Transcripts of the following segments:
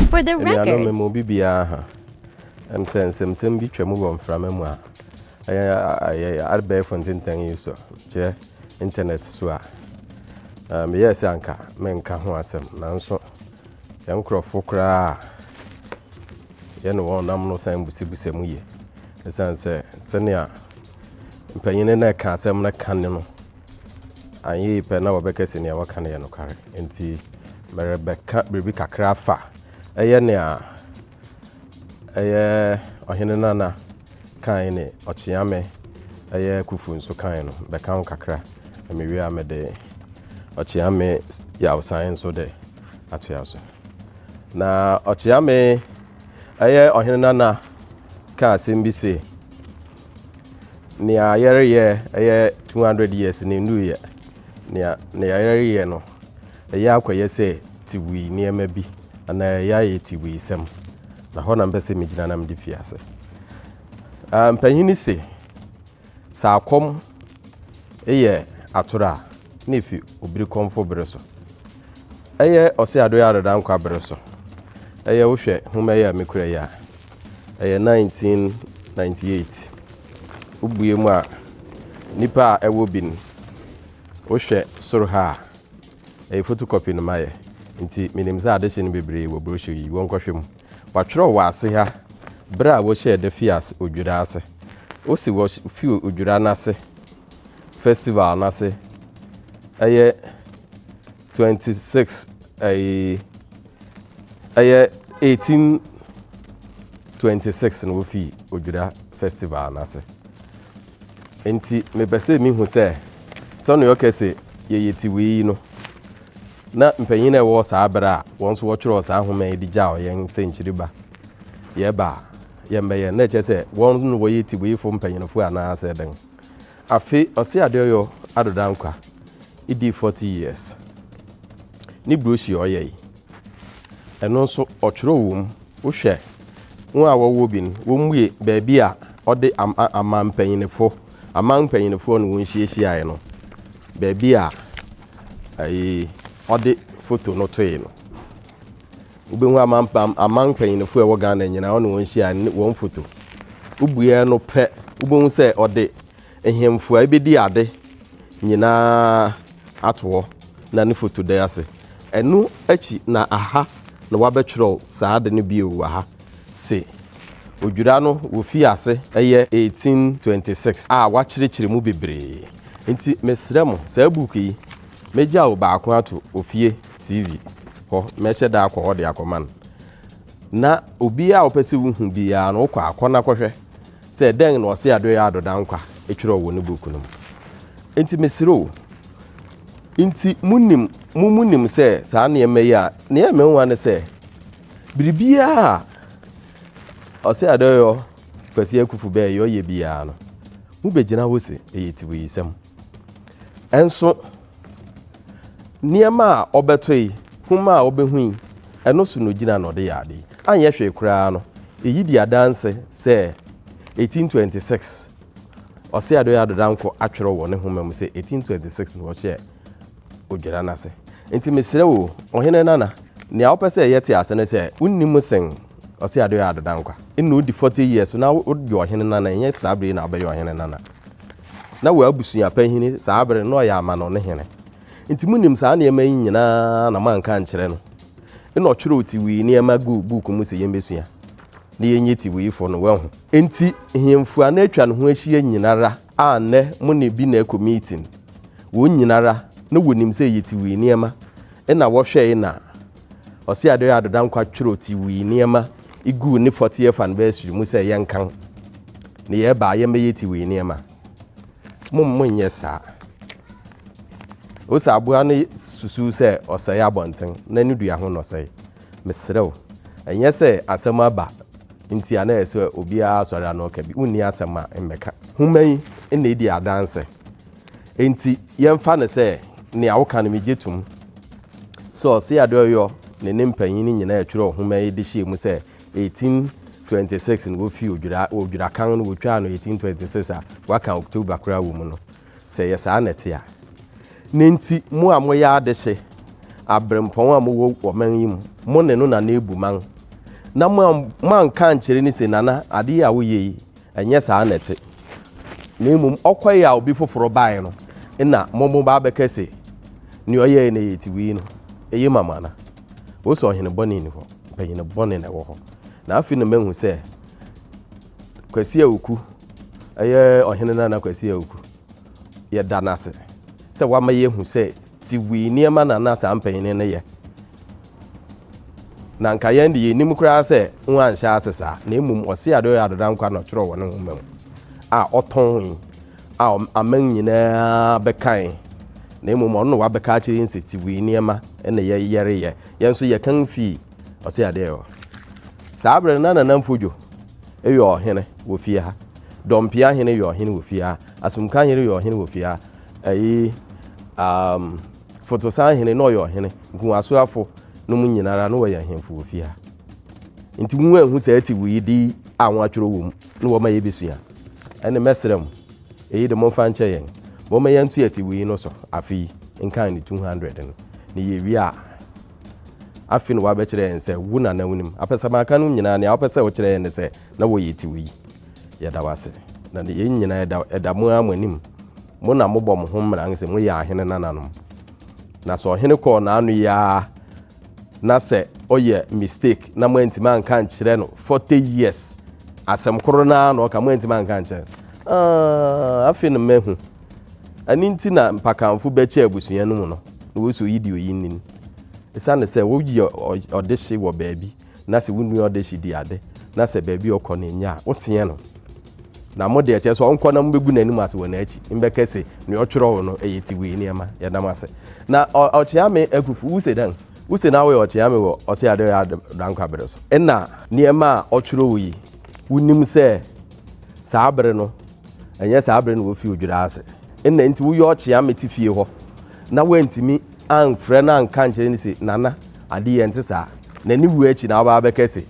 For the record. Anuanom me mu bi biara ha ɛm sɛ nsɛmsɛm bi twa mu wɔ mframa mu a ɛyɛ ɛyɛ abɛɛfo ntentan yi so kyerɛ internet so a meyɛɛ sɛ anka menka ho asɛm nanso yɛn nkurɔfo koraa a yɛne wɔn nam no san busabisa mu yie ɛsiane sɛ sɛnea mpanyin no ɛka asɛm no ka ne no Anyɛ yi pɛ na wɔbɛka se nea wɔka no yɛ nokware. Enti merebɛka biribi kakra afa ɛyɛ nea ɛyɛ Ɔhene Nana kae ne Ɔkyeame ɛyɛ Kufu nso kae no bɛka ho kakra na mewie a mede Ɔkyeame Yawsan nso de atoa so. Na Ɔkyeame ɛyɛ Ɔhene Nana kaa asɛm bi se, Nea yɛreyɛ ɛyɛ 200 years ne nnuiɛ. Nea nea yɛreyɛ no ɛyɛ akɔyɛ sɛ tiwui nneɛma bi anaa ɛyɛ ayɛ tiwui sɛm. Na hɔ na mpɛ sɛ megyina na mede fi ase. Uh, mpanyin se sɛ akɔm yɛ atoro a na efi obiri kɔmfo bere so. Ɛyɛ ɔse adoyɛ adedankwa bere so. Ɛyɛ wohwɛ homa yi a mekura yi a. Ɛyɛ 1998. Wobue mu a, nnipa a ɛwɔ bi no, wohwɛ soro ha a, ɛyɛ photocopy na mayɛ, nti menim sɛ adehye no bebree wɔ brochure yi, wɔnkɔhwɛ mu. Wɔatwerɛ wɔ ase ha berɛ a wɔhyɛɛ da fii ase odwira ase. Wose wɔfii odwira no ase, festival no ase, ɛyɛ. twenty six ɛyi ɛyɛ eighteen twenty six na wofi odwira festival n'ase nti mepɛ sɛ mehu sɛ sɛnea ɔkɛ sɛ yɛyɛ ti wei no na mpanyin a ɛwɔ saa berɛ a wɔn nso wɔtwerɛ saa nhoma yi de gya ɔyɛn sɛ nkyiriba yɛba a yɛmbɛyɛ na ɛkyɛ sɛ wɔn no wɔyɛ ti wei fo mpanyinfoɔ anaasɛ dɛn Afe ɔse ade ɔyɔ ado dankwa edii forty years ne brochure ɔyɛ yi ɛno nso ɔtwerɛ wɔ mu wohwɛ wɔn a wɔwɔ bi no wɔn mue baabi a ɔde am aman mpanyinifo aman mpanyinifoɔ no wɔn hyiahyiaeɛ no baabi a ɛyi ɔde foto no toe no. Wobɛhu amampam aman mpanyinifo a ɛwɔ Ghana nyinaa, ɔne wɔn hyia ne wɔn foto. Wobueɛ no pɛ, wobɛhu sɛ ɔde nhemfo a ɛbɛdi ade nyinaa ato hɔ na ne foto da ase. Ɛno akyi na aha na wabɛtwerɛw saa ade no bio wɔ ha se odwira no wɔfii ase ɛyɛ 1826 a wakyerɛkyerɛ mu bebree. Nti mesrɛ mo saa book yi mɛgyaw baako ato ofie. TV hɔ, mɛhyɛ da akɔ hɔ de akɔma no. Na obiara a ɔpɛ sɛ wohu biara no, wokɔ akɔ na kɔhwɛ sɛ dɛn na ɔse Adoyɛ Ado Dankwa twerɛw wɔ ne book no mu. Nti mesrɛ o, nti monim, mo mu nim sɛ saa nneɛma yi a, nea ɛmɛ nwa ne sɛ, biribiara a ɔse Adoyɔ Kwasi Akufu bɛyɛ ɔyɛ biara no, mobɛgyina hɔ se ɛyɛ tiwiyisɛm. Nso nneɛma a ɔbɛtoe, hom a obehu yi, ɛno so na ogyina na ɔde yɛ ade yi. Anyɛ hwee koraa no, eyi di adanse sɛ 1826, Ɔseadɔe Adodankɔ atwerɛ wɔ ne nhoma mu sɛ 1826 na wɔhyɛɛ Odwira no ase. Nti mesrɛ wo, Ɔhene Nana, nea wopɛ sɛ yɛte ase ne sɛ wonni mu sen Ɔseadɔe Adodankwa. Nna odi 40 years na woyɛ Ɔhene Nana, ɛnyɛ saa bere yi na wobɛyɛ Ɔhene Nana. Na wɔ abusua panyin saa bere no na ɔyɛ amanɔnne hene. Enti munim saa nneɛma yi nyinaa na moanka ankyerɛ no. Ɛnna ɔtwerɛw tiwii nneɛma guu buuku mu sɛ yemmesua, na yɛnyɛ tiwiifo no, wahu. Enti nhemfo a na atwa ne ho ahyia nyinara a nnɛ mo ne bi na ɛkɔ meeting, wɔn nyinara na wɔnim sɛ ɛyɛ tiwii nneɛma, ɛnna wɔhwɛe na Ɔse Adoye Ado Dankwa twerɛ ti wii nneɛma iguu ne 40th anniversary mu sɛ yɛnkan ne yɛ baa yɛmmɛyɛ ti wii nneɛma. Mom mo nyɛ saa. Osa aboa no susu sɛ ɔsɛe abɔnten na ne dua ho na ɔsɛe. Mesrɛ wo, ɛnyɛ sɛ asɛm aba nti a na ɛsɛ obiara asɔre ano ɔka bi. Wonni asɛm a mmɛka. Homa yi na edi adanse. Enti yɛmfa no sɛ nea woka no migye tom. Sɛ ɔse ade ɔyɔ ne ne mpanyin no nyinaa ɛtwerɛ ɔhoma yi de hyɛɛ mu sɛ 1826 no wofii odwira odwira kan no wotwaa no 1826 a waka October koraa wɔ mu no sɛ yɛ saa na ɛte a ne nti mo a moyɛ adehye abrempɔn a mowɔ ɔman yi mu mo ne no nana ebu man na mo anka ankyerɛ ne se nana ade yi a woyɛ yi Ɛnyɛ saa na ɛte, na mmom ɔkɔe a obi foforo bae no na momo ba abɛka se, Nea ɔyɛe no yɛ tiwii no, eye ma mo ana? Wose ɔhene bɔne nni hɔ, mpanyin bɔne na ɛwɔ hɔ. Na afei na mahu sɛ Kwasi Awuku yɛ ɔhene Nana Kwasi Awuku. yɛda no ase sɛ wama yɛahu sɛ tiwii nneɛma na na saa mpanyin no yɛ na nka yɛn de yɛnim koraa sɛ ho anhyɛ ase saa na mmom ɔse ade ɔyɛ adoda nkwa na ɔtwerɛ wɔ ne nwoma mu a ɔtɔn yi a aman nyinaa bɛkan na mmom ɔno na wabɛka akyerɛ yɛn sɛ tiwii nneɛma na yɛyɛreyɛ yɛn nso yɛkan fii ɔse adeɛ yɛ hɔ saa berɛ no na nanamfo dwo ɛyɛ ɔhene wɔ fie ha Dɔmpea hene yɛ ɔhene wɔ fie ha. Asumka hene yɛ ɔhene wɔ fie ha. Ɛyi um, Fotosan hene na ɔyɛ ɔhene. Nkuwasoafo no mu nyinara na wɔyɛ ahemfo wɔ fie ha. Nti mu ehu sɛ ɛte wuyi di a wɔn atwerɛ wɔ mu na wɔma yɛ bɛsua. Ɛne mɛsrɛ mu. Ɛyi de momfa nkyɛ yɛn. Wɔma yɛn nto ɛte wuyi no so afe yi nkan ne 200 no. Ne yɛ wie a afe no wabɛkyerɛ yɛn sɛ wo nana wonim. Apɛsɛmaka no nyinaa nea wopɛ sɛ wokyerɛ yɛn ne sɛ Na wɔ yɛ ti wɔ yi. Yɛda wo ase. Na ne yɛn nyinaa ɛda, ɛda mo ara mo anim. Mo na mobɔ mo ho mmara sɛ mo yɛ ahene nananom. Na sɛ ɔhene kɔɔ n'ano yi ara na sɛ ɔyɛ mistake na moantumi anka nkyerɛ no 40 years asɛm koro no ara na ɔka moantumi anka nkyerɛ no. Ah, afei no mahu. Ɛno nti na mpakanfo bɛkyɛ abusua no mu no na wɔsi oyi deɛ oyi nni no. Ɛsiane sɛ woyɛ ɔdehye wɔ baabi. na sɛ wo nua ɔda akyi di ade, na sɛ baabi a ɔkɔ no nye a, woteɛ no. Na mo deɛ, kyerɛ sɛ ɔnkɔ na mobɛgu n'anim ase wɔ n'akyi, mbɛka se, nea ɔtwerɛw no yɛ tiwei nneɛma. Yɛda mo ase. Na Ɔkyeame Akufu, wo se dɛn? Wo se na woyɛ Ɔkyeame wɔ Ɔse Ado Dankwa bere so? Nna nneɛma a ɔtwerɛw yi, wonim sɛ saa bere no, ɛnyɛ saa bere na wofi odwira ase. Nna nti woyɛ Ɔkyeame te fie hɔ na woantumi amfrɛ no anka ankyerɛ no se, Nana, adeyɛ ɛnte saa, na ne wuo akyi na waba abɛka se,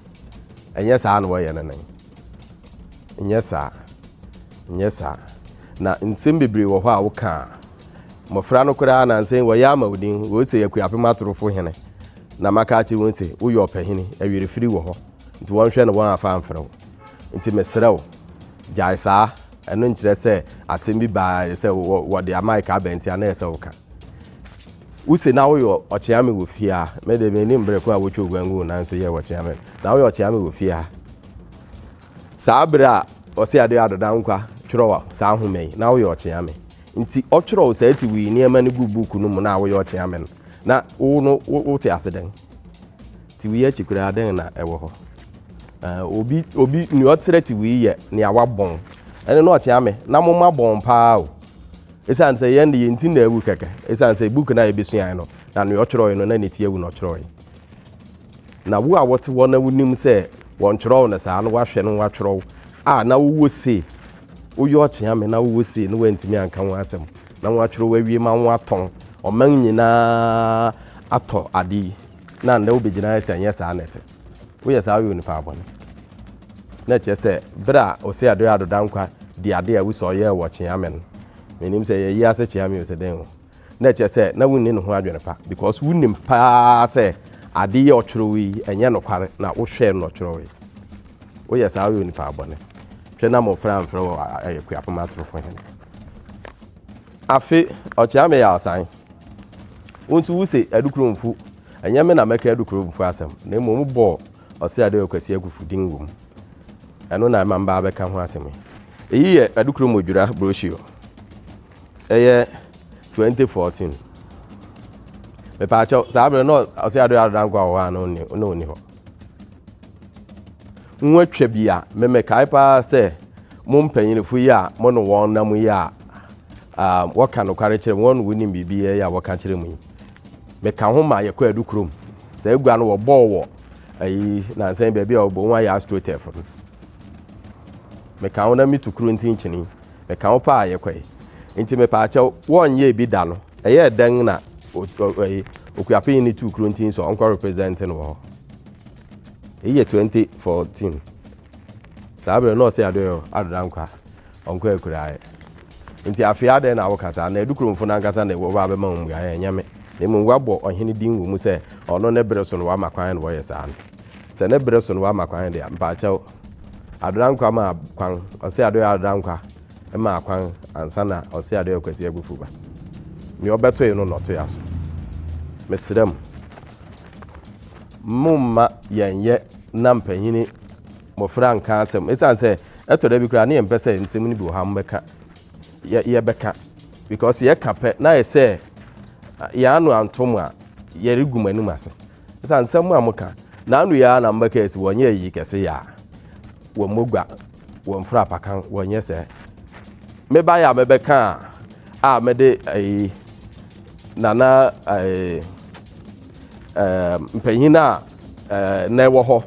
Ɛnyɛ saa na wɔyɛ no no ɛ. Nyɛ saa. Nyɛ saa. Na nsem bebree wɔ hɔ a woka a, mmɔfra no koraa nansa yi wɔyɛ ama wo din, wɔse Akuapem atorofo hene, na maka akyere wɔn se, woyɛ ɔpahini, ɛwerefiri wɔ hɔ, nti wɔnhwɛ na wɔn afa amfrɛ wo. Nti mesrɛ wo, gyae saa. Ɛno nkyerɛ sɛ asɛm bi baa ayɛ sɛ wɔde amae ka abɛn nti a na ɛyɛ sɛ woka. Wose na woyɛ ɔkyeame wɔ fie a, me de menim berɛ ko a wotwa oguan gu wo nan so yɛ ɔkyeame no. Na woyɛ ɔkyeame wɔ fie a. Saa berɛ a ɔse adeɛ adoda nkwa twerɛ saa nhoma yi, na woyɛ ɔkyeame. Nti ɔtwerɛ saa ti wii nneɛma no gu buuku no mu na woyɛ ɔkyeame no, na wo no wote ase dɛn? Ti wei akyi koraa dɛn na ɛwɔ hɔ? Uh, obi obi nea ɔkyerɛ ti wei yɛ nea wabɔn ɛne na ɔkyea me na mo ma bɔn paa o ɛsiane sɛ yɛn de yɛn ti na awu kɛkɛ ɛsiane sɛ book no a yɛbɛsuae no na nea ɔtwerɛe no na ne ti awu na ɔtwerɛe na wo a wɔte hɔ na wonim sɛ wɔntwerɛw no saa na woahwɛ no woatwerɛw a na wowɔ sei woyɛ ɔkyea me na wowɔ sei na woantumi anka ho asɛm Na wɔatwerɛ awie ma wɔatɔn. Ɔman nyinaa atɔ ade yi, na nnɛ wobɛgyina ha sɛ ɛnyɛ saa na ɛte. Woyɛ saa a, woyɛ onipa bɔne. Na ɛkyerɛ sɛ berɛ a Osei Ado Ado Dankwa dii ade a wusa ɔyɛɛ wɔ Kyeame no, mennim sɛ yɛayi ase Kyeame o sɛ dɛn o, na ɛkyerɛ sɛ na wonni ne ho adwene pa because wonim pa ara sɛ ade yi a ɔtwerɛeɛ yi ɛnyɛ nokware na wohwɛɛ no na ɔtwerɛeɛ. Woyɛ saa a, woyɛ onipa bɔne. Twɛ na mmɔfra amfrɛ wo Akuapem Atorofo Hene. Afe ɔkyea me yaasan. Wo nso wuse adukuro mfu. Ɛnyɛ me na mɛka adukuro mfu asɛm, na mmom wobɔɔ Ɔseadoyɛ Kwasi Akufu din wom. Ɛno na ɛma mebaa bɛka ho asɛm yi. Eyi yɛ adukuro mu odwira brochure. Ɛyɛ 2014. Mepaakyɛw, saa bere no na Ɔseadoyɛ Adodankwa wɔ hɔ anaa na onni hɔ? Wɔatwa bi a, memekae paa sɛ mo mpanyinfo yi a mo ne wɔn nam yi a wɔka nokware kyerɛ wɔn wonim biribi yɛ a wɔka kyerɛ mu yi. Meka ho ma yɛkɔ adu kurom. Sɛ agua no wɔbɔɔ wɔ ayi nansan baabi a wɔbɔ wɔn ayɛ astrotef no. Meka ho na mitu kuro ntinkyini. Meka wo paa yɛ kɔ yi. Nti me paa kyɛw wɔn yɛ bi da no. Ɛyɛ dɛn na ɔyi okuapin ne tu kuro nti nso ɔnkɔ represent no wɔ hɔ. Eyi yɛ 2014. Saa bere na ɔsɛ adoyɛ adoda nkwa ɔnkɔ akuraeɛ. Nti afei adɛn na woka saa na edu kuromfo no ankasa na wɔba abɛma wɔn mmuaeɛ ɛnyɛ me. Na mmom wɔabɔ ɔhene din wɔ mu sɛ ɔno ne bere so no wama kwan na wɔyɛ saa no. Sɛ ne bere so no wama kwan deɛ mpaakyɛw Adodankwa maa kwan, ɔse adoyɛ Adodankwa maa kwan ansa na ɔse adoyɛ Kwasi Agufu ba. Nea ɔbɛtoe no na ɔtoe aso. Mesrɛ mo, momma yɛnyɛ na mpanyini mmofra nka asɛm. Esiane sɛ ɛtɔ da bi koraa na yɛmpɛ sɛ nsɛm no bi wɔ hɔ a mobɛka, yɛ, yɛbɛka. Because yɛka pɛ na ayɛ sɛ yɛn ano anto mo a, yɛregu mo anim ase. ɛsiane nsɛm mu a moka na ano yi ara na mobɛka asi wɔnyɛ ayi kɛse yɛ a wɔmmɔ gua wɔmfra apakan wɔnyɛ sɛ mebaeɛ a mɛbɛka a a mɛde ayi nana ɛɛ ɛɛ mpanyin a ɛɛ na ɛwɔ hɔ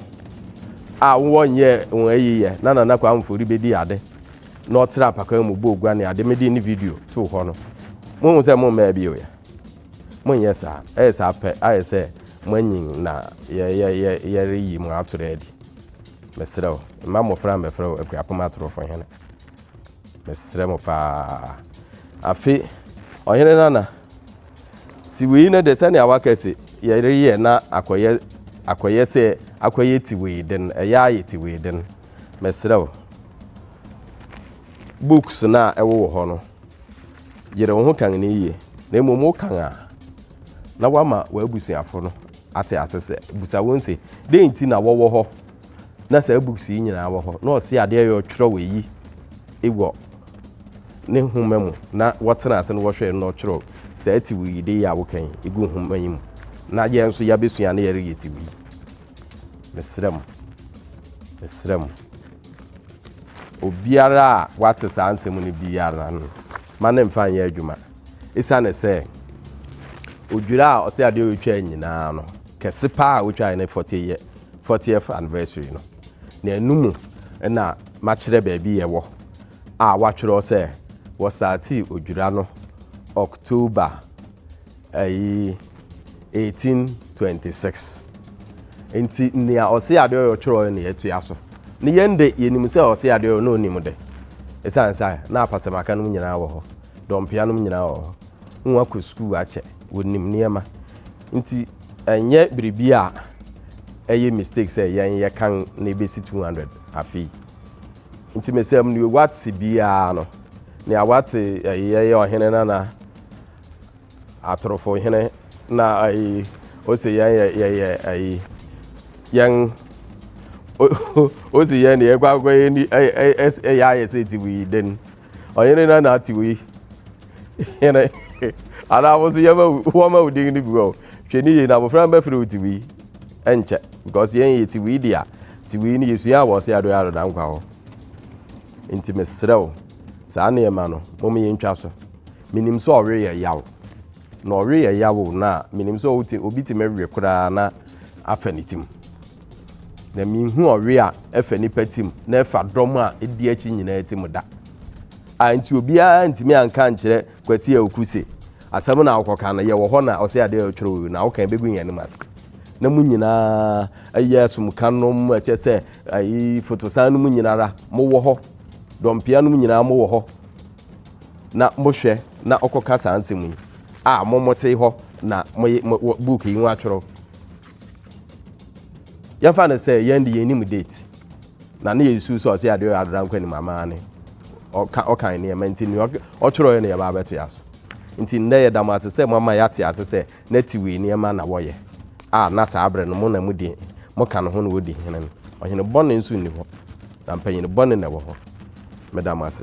a wɔnyɛ wɔn ayi yɛ na nana kɔ amfori bɛdi ade na ɔtra apakan mu bɔ ogua ne ade mede ne video to hɔ no mo ho sɛ mo mmaa bi yɛ. Monnyɛ saa. Ɛyɛ saa pɛ, ayɛ sɛ moanyin na yɛreyi mo atoro adi. Mesrɛ wo, mma mmofra mmɛfrɛ wo akuapem atorofo hene. Mesrɛ mo paa. Afe, Ɔhene Nana, tiwei no de sɛnea waka se yɛreyɛ na akɔyɛ akɔyɛ sɛ akɔyɛ tiwei den, ɛyɛ ayɛ tiwei den. Mesrɛ wo, books no a ɛwowɔ hɔ no, Yere wo ho kan no yiye, na mmom wokan a, na woama w'abusuafo no ate ase sɛ, busa wɔn se, dɛn nti na wɔwɔ hɔ na saa books yi nyinaa wɔ hɔ? Na ɔse adeɛ yɛ ɔtwerɛw eyi wɔ ne nhoma mu na wɔtena ase na wɔhwɛ na ɔtwerɛw saa tiw yi de yi a wokan yi egu nhoma yi mu na yɛn nso yɛabɛsua na yɛreyɛ tiw yi. Mesrɛ mo, mesrɛ mo. Obiara a wate saa nsɛm no biara no, ma no mfa nyɛ adwuma. Esiane sɛ odwira a ɔsɛ adeɛ ɔretwa nyinaa no, kɛse paa a ɔtwae ne 40 yɛ 40th anniversary no. Na ɛno mu na makyerɛ baabi yɛwɔ a wɔatwerɛ sɛ wɔstartee odwira no October Ayi, 1826. Nti nea ɔse Adeoyo twerɛɛ na yɛatua so. Ne yɛn de, yɛnim sɛ ɔse Adeoyo na ɔnim de. Ɛsiane sɛ na apasɛmaka nom nyinaa wɔ hɔ, dɔmpea nom nyinaa wɔ hɔ, na wɔakɔ sukuu akyɛ, wɔnim nneɛma. Nti ɛnyɛ biribi a ɛyɛ mistake sɛ yɛn yɛkan na ɛbɛsi 200 afei. Nti mesɛ mneo wate biara no, nea wate ɛyɛ ɔhene nana atorofo hene na ayi ose yɛn yɛ yɛyɛ ayi yɛn ose yɛn deɛ ɛkɔ akɔ yɛ ni ɛyɛ ayɛ sɛ ti wi den ɔyere na na ti wi hene anaa wɔn so yɛma wɔn ma odin no bi wɔ hwɛ ne yie na abofra no bɛfrɛ wo ti wi ɛnkyɛ because yɛn yɛ ti wi deɛ ti wi no yɛsua wɔ ɔse adoɛ adoda nkwa hɔ nti mesrɛ wo saa nneɛma no mom yɛntwa so menim sɛ ɔwe yɛ yaw na ɔwe yɛ yaw o na menim sɛ ɔte obi te mɛwe koraa na afa ne tim na mehu ɔwe a ɛfa nipa tim na ɛfa dɔm a ɛdi akyi nyinaa tim da a nti obiara ntumi anka nkyerɛ kwasi a oku se asɛm na awokɔka no yɛwɔ hɔ na ɔsɛ adeɛ a ɔtwerɛ wɔ na awoka bɛgu yɛn anim ase na mu nyinaa ɛyɛ asomka nom ɛkyɛ sɛ ayi fotosan no mu nyinara mowɔ hɔ dɔmpea no mu nyinaa mowɔ hɔ na mohwɛ na ɔkɔka saa nsɛm yi a mo mote hɔ na moye book yi ho atwerɛ yɛmfa no sɛ yɛn de yɛnim date na ne yɛsu sɛ ɔsɛ adeɛ ɔyɛ adora nkɔ anim amaa ne ɔkan nneɛma nti nea ɔtwerɛeɛ no yɛba abɛto yɛ aso nti nnɛ yɛda mo ase sɛ moama yɛate ase sɛ na ti wei nneɛma na wɔyɛ a na saa berɛ no mo na mudi moka no ho na wɔdi hene no ɔhene bɔne nso nni hɔ na mpanyin bɔne na ɛwɔ hɔ meda mo ase